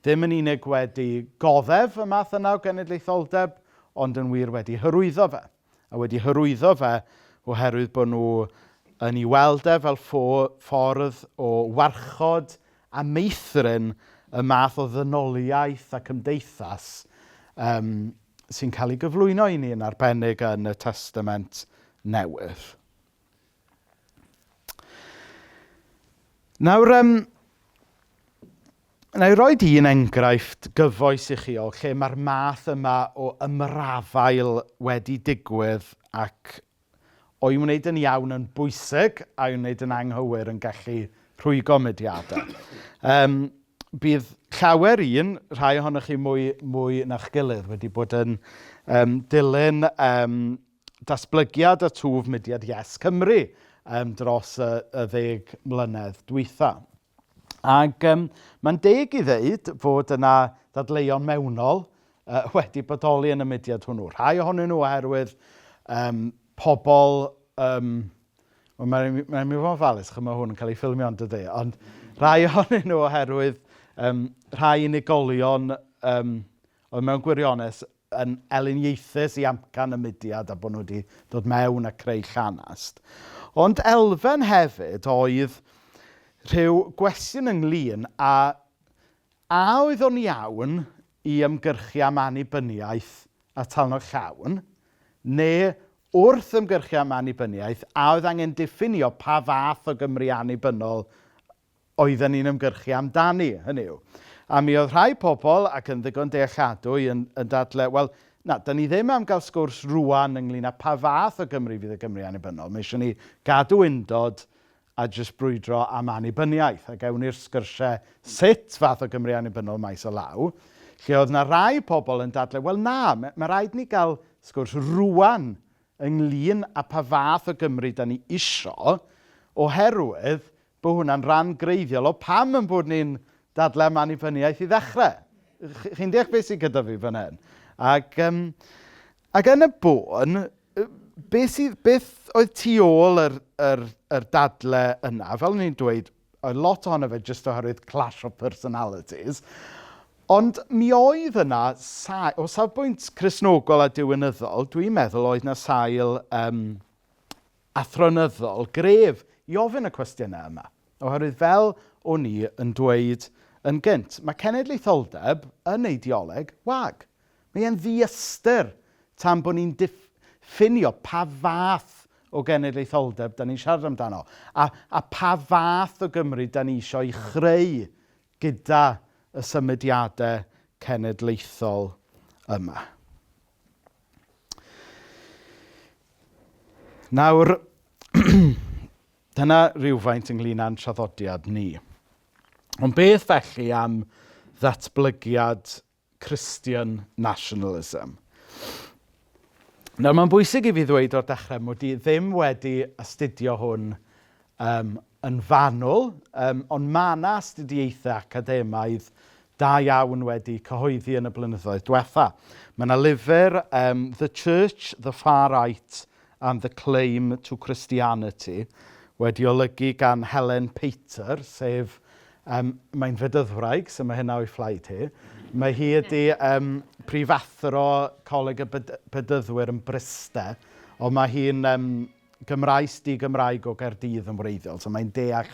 A: Ddim yn unig wedi goddef y math yna o genedlaetholdeb, ond yn wir wedi hyrwyddo fe. A wedi hyrwyddo fe oherwydd bod nhw yn ei weld e fel ffordd o warchod a meithrin y math o ddynoliaeth a cymdeithas um, sy'n cael ei gyflwyno i ni yn arbennig yn y Testament Newydd. Nawr yym wna i roi un enghraifft gyfoes i chi o lle mae'r math yma o ymrafael wedi digwydd ac o'i wneud yn iawn yn bwysig a'i wneud yn anghywir yn gallu rhwygo mudiadau. Yym bydd llawer un, rhai ohonoch chi mwy mwy na'ch gilydd, wedi bod yn yym dilyn yym... datblygiad a twf mudiad Yes Cymru um, dros y, y ddeg mlynedd dwytha. Ac um, mae'n deg i ddeud fod yna ddadleuon mewnol uh, wedi bodoli yn y mudiad hwnnw. Rhai ohonyn nhw oherwydd um, pobl... Um, Wel, mae'n mae mi fod yn falus, chymau hwn yn cael ei ffilmio ond ydy. Ond rhai ohonyn nhw oherwydd um, rhai unigolion um, oedd mewn gwirionedd yn eleniaethus i amcan y mudiad a bod nhw wedi dod mewn a creu llanast. Ond elfen hefyd oedd rhyw gwestiwn ynglyn a a oedd o'n iawn i ymgyrchu am annibyniaeth a talnod llawn, neu wrth ymgyrchu am annibyniaeth, a oedd angen diffinio pa fath o Gymru annibynnol oedden ni'n ymgyrchu amdani, hynny yw. A mi oedd rhai pobl, ac yn ddigon dealladwy, yn, yn dadle, wel, na, da ni ddim am gael sgwrs rwan ynglyn â pa fath o Gymru fydd y Gymru annibynnol. Mae eisiau ni gadw undod a jyst brwydro am annibyniaeth, ac ewn ni'r sgyrsiau sut fath o Gymru annibynnol maes o law, lle oedd na rai pobl yn dadle, wel na, mae, mae rhaid ni gael sgwrs rwan ynglyn â pa fath o Gymru da ni isio, oherwydd Bod hwnna'n rhan greiddiol o pam yn bod ni'n dadlau am annibyniaeth i ddechrau. Chi'n deall beth sydd gyda fi fan hyn? Ac, um, ac yn y bôn, beth, sydd, beth oedd tu ôl yr, yr, yr dadle yna? Fel o'n i'n dweud, oedd lot ohono fe jyst oherwydd clash of personalities. Ond mi oedd yna, sail, o safbwynt chrysnogol a diwinyddol, dwi'n meddwl oedd yna sail um, athronyddol gref i ofyn y cwestiynau yma, oherwydd fel o'n i yn dweud yn gynt, mae cenedlaetholdeb yn eideoleg wag. Mae e'n ddiystyr tan bod ni'n diffinio pa fath o genedlaetholdeb da ni'n siarad amdano a, a pa fath o Gymru da ni eisiau chreu gyda y symudiadau cenedlaethol yma. Nawr dyna rywfaint ynglyn â'n traddodiad ni. Ond beth felly am ddatblygiad Christian nationalism? Nawr mae'n bwysig i fi ddweud o'r dechrau mod i ddim wedi astudio hwn Yym, yn fanwl, yym, ond mae yna astudiaethau academaidd da iawn wedi cyhoeddi yn y blynyddoedd diwetha'. Mae yna lyfr yym The Church, the Far Right and the Claim to Christianity wedi olygu gan Helen Pater, sef, yym, mae'n Fedyddwraig, so mae hynna o'i phlaid hi. Mae hi ydi yym prifathro Coleg y Bed- Bedyddwyr yn Bryste, ond mae hi'n yym... Gymraes di-Gymraeg o Gaerdydd yn wreiddiol. So mae'n deall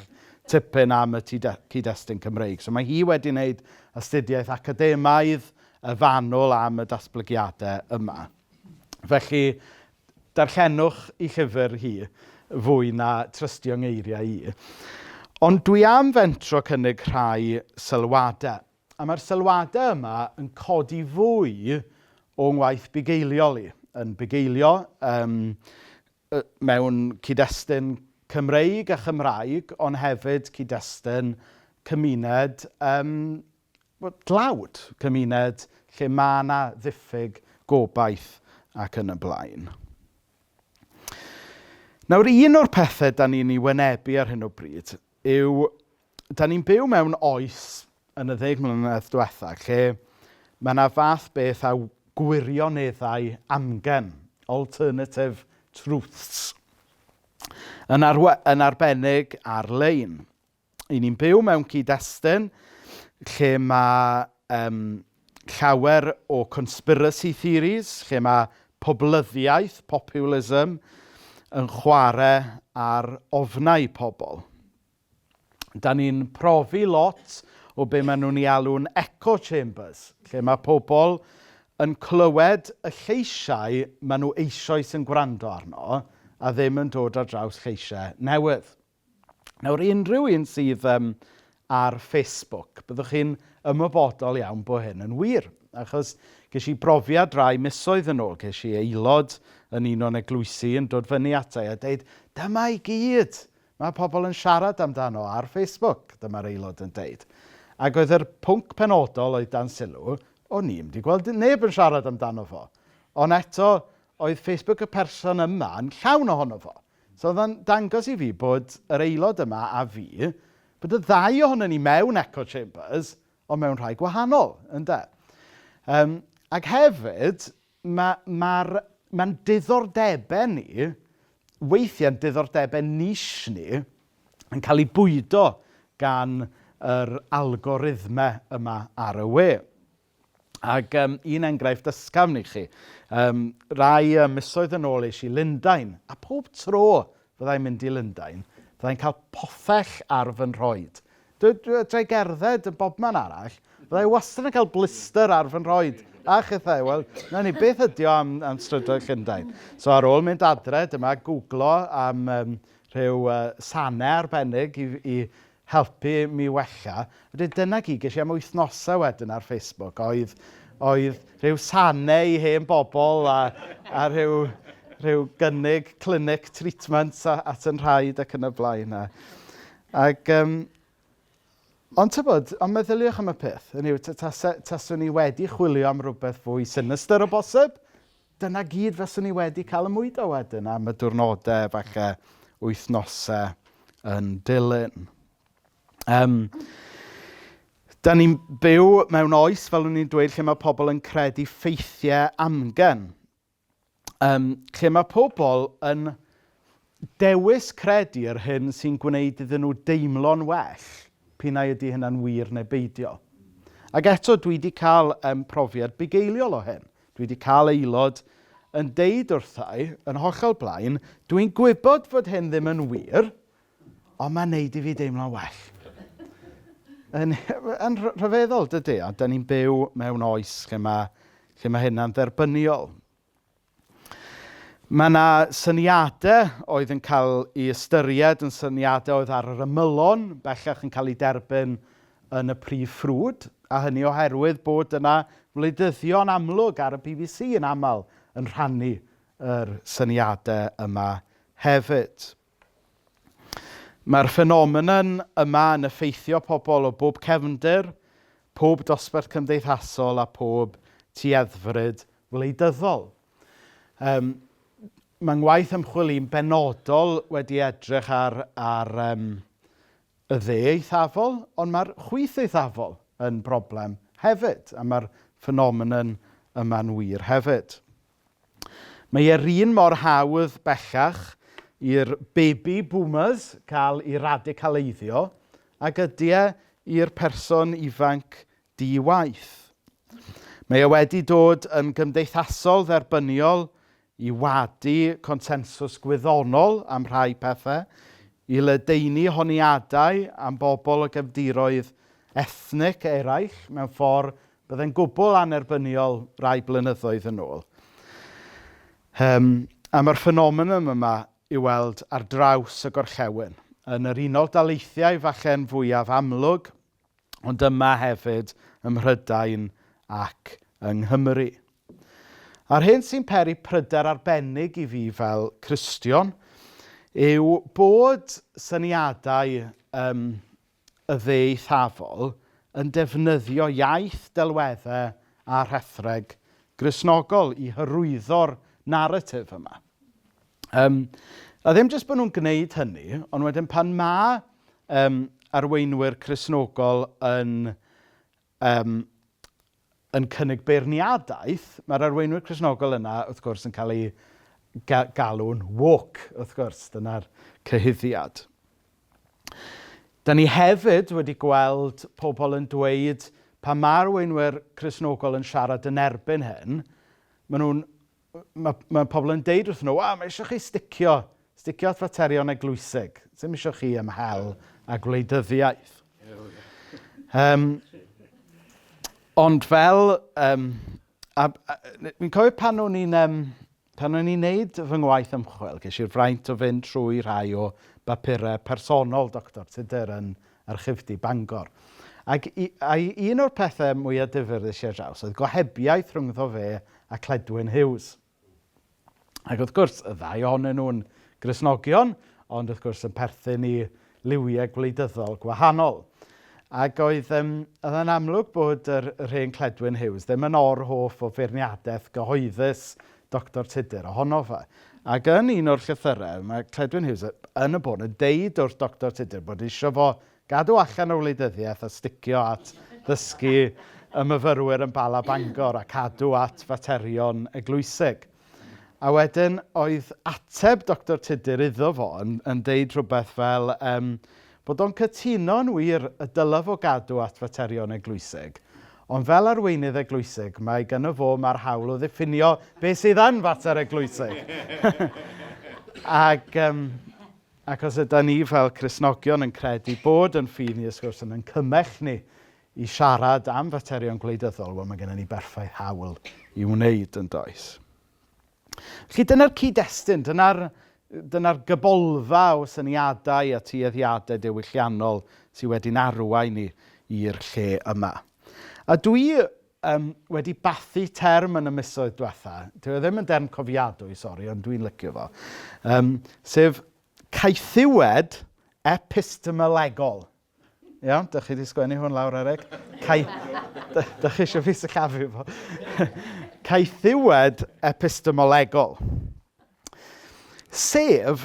A: tipyn am y cyd-destun Cymreig. So mae hi wedi wneud astudiaeth academaidd y fanwl am y datblygiadau yma. Felly, darllenwch i llyfr hi fwy na trystio ngeiriau i. Ond dwi am fentro cynnig rhai sylwadau. A mae'r sylwadau yma yn codi fwy o'n ngwaith bugeiliol i. Yn bugeilio um, mewn cyd-destun Cymreig a Chymraeg, ond hefyd cyd-destun cymuned um, dlawd, cymuned lle mae yna ddiffyg gobaith ac yn y blaen. Nawr, un o'r pethau da ni'n ei wynebu ar hyn o bryd yw, dan ni'n byw mewn oes yn y ddeg mlynedd diwetha' lle mae 'na fath beth â gwirioneddau amgen, alternative truths, yn arwe- yn arbennig ar-lein. 'Y ni'n byw mewn cyd-destun lle ma' yym llawer o conspiracy theories lle mae poblyddiaeth, populism, yn chwarae ar ofnau pobl. Da ni'n profi lot o be maen nhw'n ei alw'n echo chambers, lle mae pobl yn clywed y lleisiau maen nhw eisoes yn gwrando arno a ddim yn dod ar draws lleisiau newydd. Nawr, i unrhyw un sydd yym ar Facebook, byddwch chi'n ymwybodol iawn bod hyn yn wir, achos ges i brofiad rai misoedd yn ôl, ges i aelod yn un o'n eglwysi yn dod fyny ata i a deud, dyma i gyd mae pobl yn siarad amdano ar Facebook, dyma'r aelod yn deud. Ac oedd yr pwnc penodol oedd dan sylw, o'n i'n mynd i gweld neb yn siarad amdano fo. Ond eto, oedd Facebook y person yma yn llawn ohono fo. So oedd o'n dangos i fi bod yr aelod yma a fi, bod y ddau ohono ni mewn echo chambers, ond mewn rhai gwahanol, ynde? Um, ac hefyd, mae mae'r mae'n diddordebau ni, weithiau'n diddordebau nis ni, yn cael ei bwydo gan yr algorithmau yma ar y we. Ac um, un enghraifft ysgafn i chi. Um, rai um, misoedd yn ôl eisiau Lundain, a pob tro fyddai'n mynd i Lundain, fyddai'n cael pothell ar fy nhroed. Dwi gerdded yn bobman arall, fyddai wastad yn cael blister ar fy nhroed. A chethau, wel, na ni, beth ydy o am, am strydoedd Llundain? So ar ôl mynd adre, dyma googlo am um, rhyw uh, sanau arbennig i, i helpu i mi wella. Wedyn dyna gyd, ges i am wythnosau wedyn ar Facebook oedd oedd rhyw sanau i hen bobl a a rhyw rhyw gynnig clinic treatment a- at yn rhaid ac yn y blaen a ac yym ond tybod, ond meddyliwch am y peth, hynny yw t- tase taswn i wedi chwilio am rywbeth fwy sinistr o bosib, Dyna gyd fyswn i wedi cael y mwydo wedyn am y diwrnodau, falle wythnosau yn dilyn. Um, da ni'n byw mewn oes, fel o'n i'n dweud, lle mae pobl yn credu ffeithiau amgen. Um, lle mae pobl yn Dewis credu yr hyn sy'n gwneud iddyn nhw deimlo'n well, p'un ai ydy hynna'n wir neu beidio. Ac eto, dwi wedi cael um, profiad bugeiliol o hyn. Dwi wedi cael aelod yn deud wrthau, yn hollol blaen, dwi'n gwybod fod hyn ddim yn wir, ond mae'n neud i fi deimlo'n well. Yn, yn rhyfeddol, dydy, a da ni'n byw mewn oes lle mae, lle mae hynna'n dderbyniol. Mae yna syniadau oedd yn cael ei ystyried yn syniadau oedd ar yr ymylon, bellach yn cael ei derbyn yn y prif ffrwd, a hynny oherwydd bod yna wleidyddion amlwg ar y BBC yn aml yn rhannu yr syniadau yma hefyd. Mae'r ffenomenon yma yn effeithio pobl o bob cefndir, pob dosbarth cymdeithasol a phob tueddfryd wleidyddol. Um, mae ngwaith ymchwil i'n benodol wedi edrych ar, ar um, y dde eithafol, ond mae'r chwyth eithafol yn broblem hefyd, a mae'r ffenomenon yma'n wir hefyd. Mae e'r un mor hawdd bellach i'r baby boomers cael ei radicaleiddio ag ydy e i'r person ifanc di-waith. Mae e wedi dod yn gymdeithasol dderbyniol i wadu consensws gwyddonol am rhai pethau, i ledaenu honiadau am bobl o gefndiroedd ethnic eraill mewn ffordd Byddai'n gwbl annerbyniol rai blynyddoedd yn ôl. Um, a mae'r ffenomenon yma i weld ar draws y gorllewin. Yn yr unol daleithiau falle'n fwyaf amlwg, ond yma hefyd ym Mhrydain ac yng Nghymru. A'r hyn sy'n peri pryder arbennig i fi fel Cristion yw bod syniadau um, y ddieithafol yn defnyddio iaith, delweddau a rhethreg Gristnogol i hyrwyddo'r naratif yma. Um, a ddim jyst bod nhw'n gwneud hynny, ond wedyn pan mae um, arweinwyr Cresnogol yn yym, yn cynnig beirniadaeth, mae'r arweinwyr Cristnogol yna, wrth gwrs, yn cael eu ga- galw'n woke, wrth gwrs. Dyna'r cyhuddiad. Da ni hefyd wedi gweld pobl yn dweud, pa mae arweinwyr Cristnogol yn siarad yn erbyn hyn, maen nhw'n mae, mae pobl yn deud wrth nhw, a, mae eisiau chi sticio, sticio at faterion eglwysig. Ddim eisiau chi ymhel a gwleidyddiaeth. Um, ond fel, um, a, a, fi'n cofio pan o'n i'n, um, pan o'n i'n neud fy ngwaith ymchwil, ges i'r fraint o fynd trwy rhai o bapurau personol Dr Tudur yn, Archifdy Bangor. Ac i- ai un o'r pethe mwya difyr ddes i ar draws oedd gohebiaeth rhyngddo fe a Cledwyn Hughes. Ac wrth gwrs, y ddau ohonyn nhw'n Gristnogion, ond wrth gwrs yn perthyn i liwiau gwleidyddol gwahanol. Ac oedd, um, oedd yn amlwg bod yr, yr hen Cledwyn Hughes ddim yn or-hoff o feirniadaeth gyhoeddus Doctor Tudur, ohono fe. Ac yn un o'r llythyrau, mae Cledwyn Hughes yn y bôn yn deud wrth Doctor Tudur bod eisiau fo gadw allan o wleidyddiaeth a sticio at ddysgu y myfyrwyr yn Bala Bangor a cadw at faterion eglwysig. A wedyn oedd ateb Doctor Tudur iddo fo yn, yn deud rhywbeth fel, um, Bod o'n cytuno yn wir y dylaf o gadw at faterion eglwyseg, ond fel arweinydd eglwyseg mae gynno fo mae'r hawl o ddiffinio beth sydd yn fater eglwyseg. Ac um, ac os ydy ni fel Cresnogion yn credu bod yn ffydd ni, ys gwrs, yn yn cymell ni i siarad am faterion gwleidyddol, wel mae gennym ni berffaith hawl i wneud yn does. Felly dyna'r cyd-destun, dyna'r dyna gybolfa o syniadau a tueddiadau dewyllannol sydd wedi'n arwain ni i'r lle yma. A dwi um, wedi bathu term yn y misoedd diwetha, dwi e ddim yn derm cofiadwy, sori, ond dwi'n lycio fo, um, sef caethiwed epistemolegol. Iawn, dych chi wedi sgwennu hwn lawr, Eric. Cai... dych chi eisiau fi syllafu fo. Caethiwed epistemolegol. Sef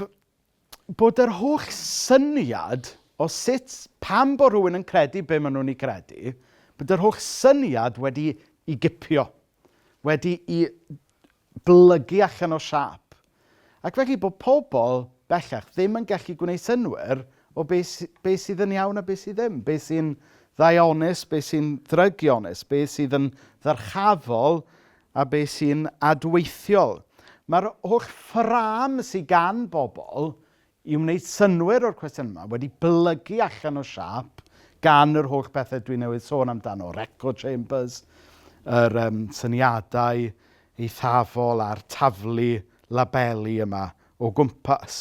A: bod yr holl syniad o sut pam bod rhywun yn credu be maen nhw'n ei credu, bod yr holl syniad wedi i gipio, wedi i blygu allan o siâp, ac felly bod pobl bellach ddim yn gallu gwneud synwyr o be sy- be sydd yn iawn a be sydd ddim, be sy'n ddaionus, be sy'n ddrygionus, be sydd yn ddyrchafol a be sy'n adweithiol. Mae'r holl ffrâm sy gan bobl i wneud synnwyr o'r cwestiynau yma wedi blygu allan o siâp gan yr holl bethau dwi newydd sôn amdano, yr echo chambers, yr um, syniadau eithafol a'r taflu labeli yma o gwmpas.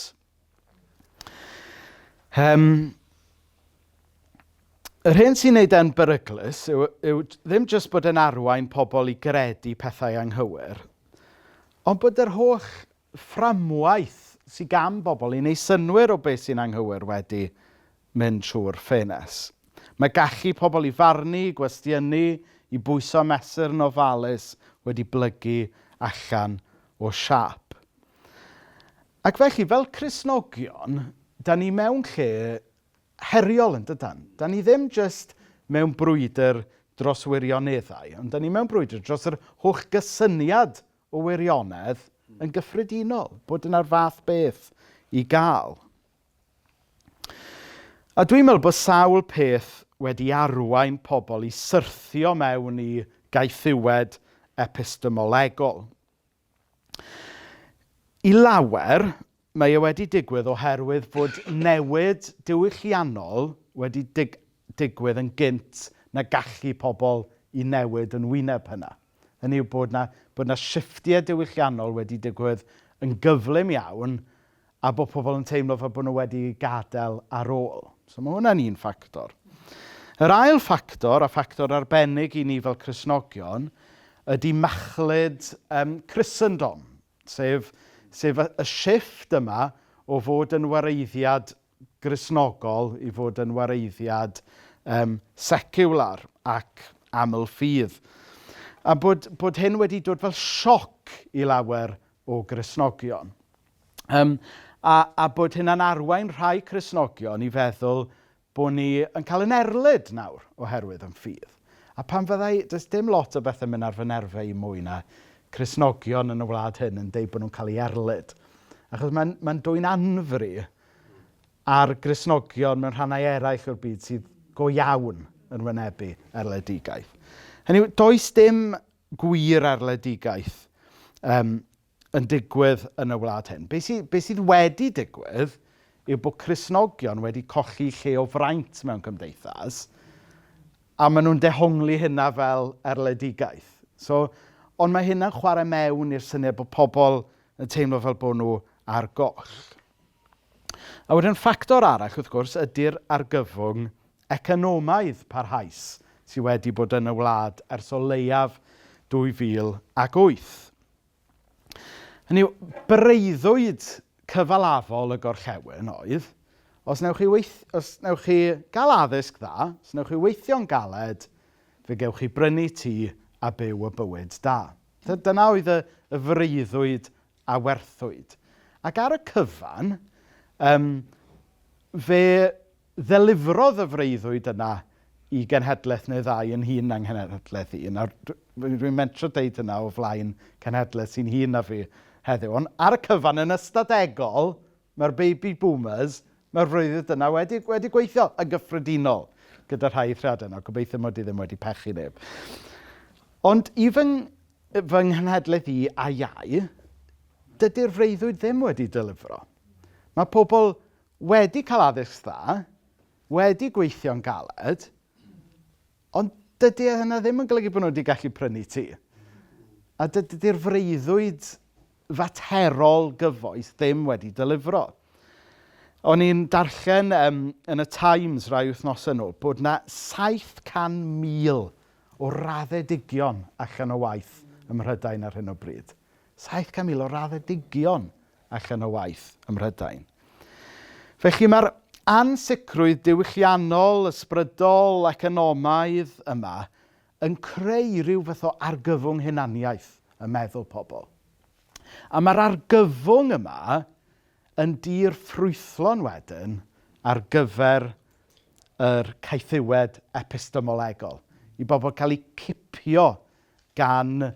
A: Um, yr hyn sy'n neud e'n beryglus yw, yw ddim jyst bod yn arwain pobl i gredu pethau anghywir, ond bod yr holl fframwaith sy gan bobl i wneud synnwyr o beth sy'n anghywir wedi mynd trwy'r ffenest. Mae gallu pobl i farnu, i gwestiynu, i bwyso a mesur yn ofalus wedi blygu allan o siâp. Ac felly, fel Cristnogion, da ni mewn lle heriol yn dydan. Da ni ddim jyst mewn brwydr dros wirioneddau, ond da ni mewn brwydr dros yr holl gysyniad o wirionedd yn gyffredinol, bod yna'r fath beth i gael. A dwi'n meddwl bod sawl peth wedi arwain pobl i syrthio mewn i gaethiwed epistemolegol. I lawer, Mae e wedi digwydd oherwydd bod newid diwylliannol wedi dig- digwydd yn gynt na gallu pobl i newid yn wyneb hynna. Hynny yw bod 'na, bod 'na shifftiau diwylliannol wedi digwydd yn gyflym iawn a bod pobl yn teimlo fel bod nhw wedi eu gadael ar ôl. So mae hwnna'n un ffactor. Yr ail ffactor, a ffactor arbennig i ni fel Cristnogion, ydy machlud um, Christendom. Sef, sef y, y shifft yma o fod yn wareiddiad Gristnogol i fod yn wareiddiad um, seciwlar ac aml-ffydd. A bod, bod hyn wedi dod fel sioc i lawer o Gristnogion. Um, a, a bod hynna'n arwain rhai Cresnogion i feddwl Bo' ni yn cael yn erlid nawr oherwydd yn ffydd. A pan fyddai, does dim lot o bethe'n mynd ar fy nerfau i mwy na Cristnogion yn y wlad hyn yn deud bod nhw'n cael eu erlid. Achos mae'n mae'n dwyn anfri ar Gristnogion mewn rhannau eraill o'r byd sydd go iawn yn wynebu erledigaeth. Hynny yw, does dim gwir erledigaeth um, yn digwydd yn y wlad hyn. Be, sy, be sydd wedi digwydd yw bod Cresnogion wedi colli lle o fraint mewn cymdeithas a maen nhw'n dehongli hynna fel erledigaeth. So, ond mae hynna'n chwarae mewn i'r syniad bod pobl yn teimlo fel bod nhw ar goll. A wedyn ffactor arall, wrth gwrs, ydy'r argyfwng economaidd parhaus sydd wedi bod yn y wlad ers o leiaf 2008. Hynny yw, breuddwyd cyfalafol y gorllewin oedd, os wnewch chi weith- os wnewch chi gael addysg dda, os wnewch chi weithio'n galed, fe gewch chi brynu tŷ a byw y bywyd da. Dy- Dyna oedd y y freuddwyd a werthwyd. Ac ar y cyfan, yym, fe Ddelifrodd y freuddwyd yna i genhedlaeth neu ddau yn hŷn na nghenhedlaeth i. Nawr, dw- dwi'n mentro deud hynna o flaen cenhedlaeth sy'n hŷn na fi heddiw, ond ar y cyfan, yn ystadegol, mae'r baby boomers, mae'r freuddwyd yna wedi, wedi gweithio yn gyffredinol gyda rhai eithriadau. Nawr, gobeithio mod i ddim wedi pechu neb. Ond i fy, fy nghenhedlaeth i a iau, dydy'r freuddwyd ddim wedi delifro. Mae pobl wedi cael addysg dda, wedi gweithio'n galed, ond dydy e hynna ddim yn golygu bod nhw wedi gallu prynu tŷ. A dydy'r freuddwyd faterol gyfoes ddim wedi delifro. O'n i'n darllen um, yn y Times rai wythnos yn ôl bod na 700,000 o raddedigion allan o waith ym Mhrydain ar hyn o bryd. 700,000 o raddedigion allan o waith ym Mhrydain. Felly mae'r ansicrwydd diwylliannol, ysbrydol, economaidd yma yn creu rhyw fath o argyfwng hunaniaeth y meddwl pobl. A mae'r argyfwng yma yn dir ffrwythlon wedyn ar gyfer yr caethiwed epistemolegol, i bobl cael eu cipio gan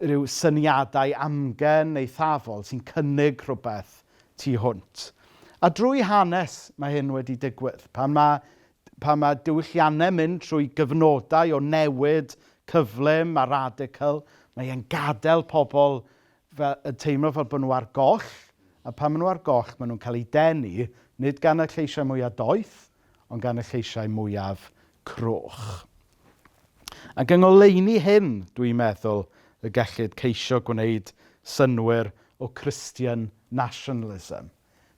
A: rhyw syniadau amgen eithafol sy'n cynnig rhywbeth tu hwnt. A drwy hanes mae hyn wedi digwydd. Pan mae, pan mae diwylliannau'n mynd trwy gyfnodau o newid cyflym a radical, mae e'n gadael pobl fel, yn teimlo fel bod nhw ar goll, a pan maen nhw ar goll, maen nhw'n cael eu denu, nid gan y lleisiau mwyaf doeth, ond gan y lleisiau mwyaf cruwch. Ac yng ngoleuni hyn, dwi'n meddwl, y gellid ceisio gwneud synwyr o Christian nationalism.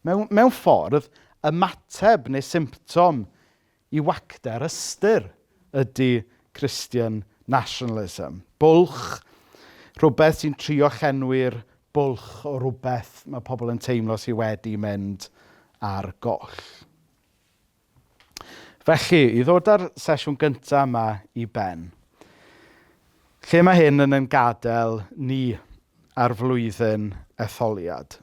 A: Mewn, mewn ffordd, ymateb neu symptom i wacter ystyr ydy Christian nationalism. Bwlch, rhywbeth sy'n trio llenwi'r bwlch o rhywbeth mae pobl yn teimlo sydd wedi mynd ar goll. Felly, i ddod â'r sesiwn gyntaf yma i ben, lle mae hyn yn ein gadael ni ar flwyddyn etholiad?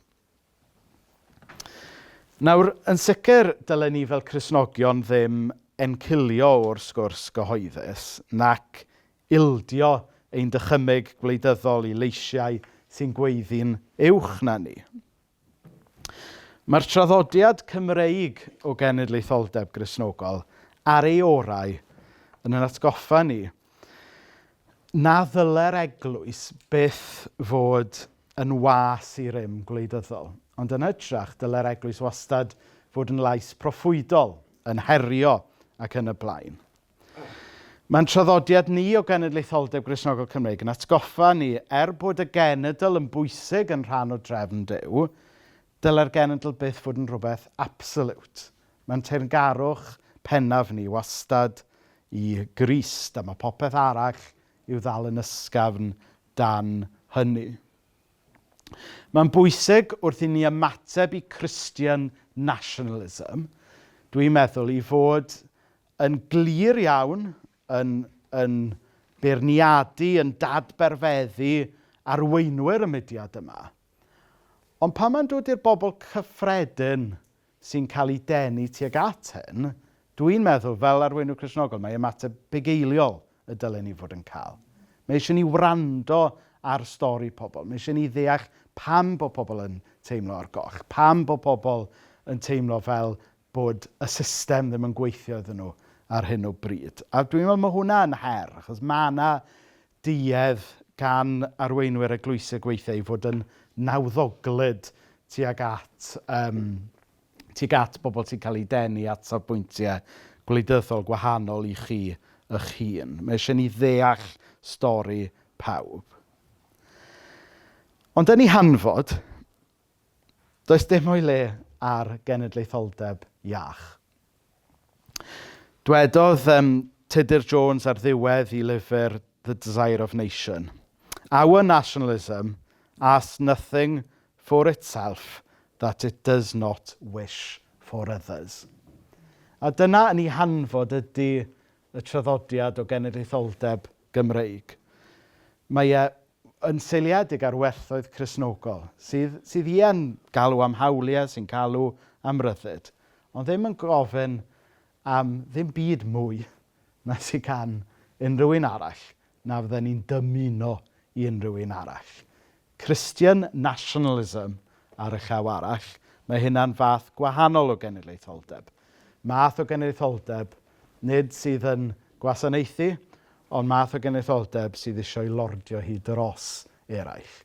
A: Nawr, yn sicr, dylen ni fel Cresnogion ddim encilio o'r sgwrs gyhoeddus nac ildio ein dychymyg gwleidyddol i leisiau sy'n gweiddi'n uwch na ni. Mae'r traddodiad Cymreig o genedlaetholdeb Gristnogol ar ei orau yn yn atgoffa ni na ddylai'r eglwys byth fod yn was i rym gwleidyddol, ond yn hytrach dylai'r eglwys wastad fod yn lais proffwydol, yn herio ac yn y blaen. Mae'n traddodiad ni o genedlaetholdeb Gristnogol Cymreig yn atgoffa ni, er bod y genedl yn bwysig yn rhan o drefn Duw, dylai'r genedl byth fod yn rhywbeth absolute. Mae'n teyrngarwch pennaf ni wastad i Grist, a mae popeth arall i'w ddal yn ysgafn dan hynny. Mae'n bwysig wrth i ni ymateb i Christian nationalism, dwi'n meddwl, i fod yn glir iawn, yn, yn beirniadu, yn dadberfeddu arweinwyr y mudiad yma. Ond pan mae'n dod i'r bobl cyffredin sy'n cael ei denu tuag at hyn, dwi'n meddwl, fel arweinydd Cresnogol, mae ymateb bugeiliol y dylen ni fod yn cael. Mae eisiau ni wrando ar stori pobl. Mae eisiau ni ddeall pam bod pobl yn teimlo ar goll, pam bod pobl yn teimlo fel bod y system ddim yn gweithio iddyn nhw ar hyn o bryd. A dwi'n meddwl mae hwnna'n her, achos mae yna duedd gan arweinwyr eglwysig weithiau i fod yn nawddoglyd tuag at, um, tuag at bobl sy'n cael eu denu at safbwyntiau gwleidyddol gwahanol i chi eich hun. Mae eisiau ni ddeall stori pawb. Ond yn ei hanfod, Does dim o'i le ar genedlaetholdeb iach. Dwedodd um, Tudur Jones ar ddiwedd i lyfr The Desire of Nation, Our nationalism asks nothing for itself that it does not wish for others. A dyna yn ei hanfod ydy y traddodiad o genedlaetholdeb Gymreig. Mae e yn seiliedig ar werthoedd Cristnogol, sydd, sydd yn galw am hawliau, sy'n galw am ryddid, ond ddim yn gofyn am ddim byd mwy na sy'n gan unrhyw un arall na fydden ni'n dymuno i unrhyw un arall. Christian nationalism ar y llaw arall, mae hynna'n fath gwahanol o genedlaetholdeb. Math o genedlaetholdeb nid sydd yn gwasanaethu, Ond math o genedlaetholdeb sydd eisiau lordio hi dros eraill.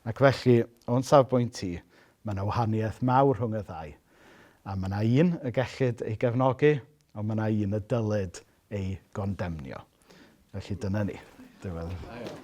A: Ac felly, o'n safbwynt i, mae yna wahaniaeth mawr rhwng y ddau. A mae yna un y gellid ei gefnogi, ond mae yna un y dylid ei gondemnio. Felly dyna ni. Diolch.